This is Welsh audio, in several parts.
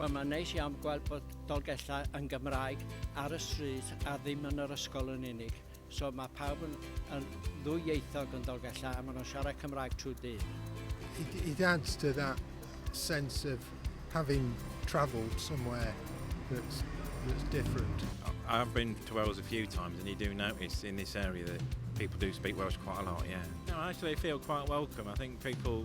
Wel, mae'n neis iawn gweld bod Dolgellau yn Gymraeg ar y stryd a ddim yn yr ysgol yn unig. So mae pawb yn, yn ddwyieithog yn Dolgellau a maen nhw'n siarad Cymraeg trwy dyn. It, it adds to that sense of having travelled somewhere that's, that's different. I've been to Wales a few times and you do notice in this area that people do speak Welsh quite a lot, yeah. No, actually I feel quite welcome. I think people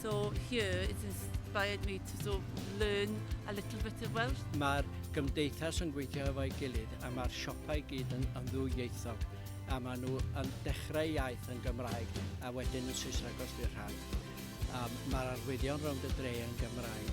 So here it's inspired me to sort of learn a little bit of Welsh. Mae'r gymdeithas yn gweithio efo'i gilydd a mae'r siopau i gyd yn, yn ddwyieithog a maen nhw yn dechrau iaith yn Gymraeg a wedyn yn Saesneg os di'r rhan. Um, Mae'r arwyddion rownd y dre yn Gymraeg.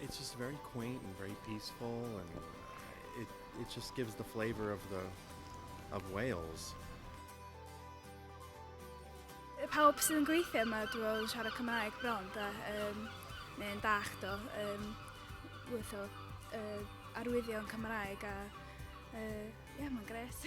It's just very quaint and very peaceful and uh, it, it just gives the flavour of, the, of Wales. Pawb sydd yn gweithio yma, dwi'n meddwl, yn siarad Cymraeg bron, da, um, neu'n dach do, um, wyth o uh, arwyddion Cymraeg a, uh, yeah, mae'n gres.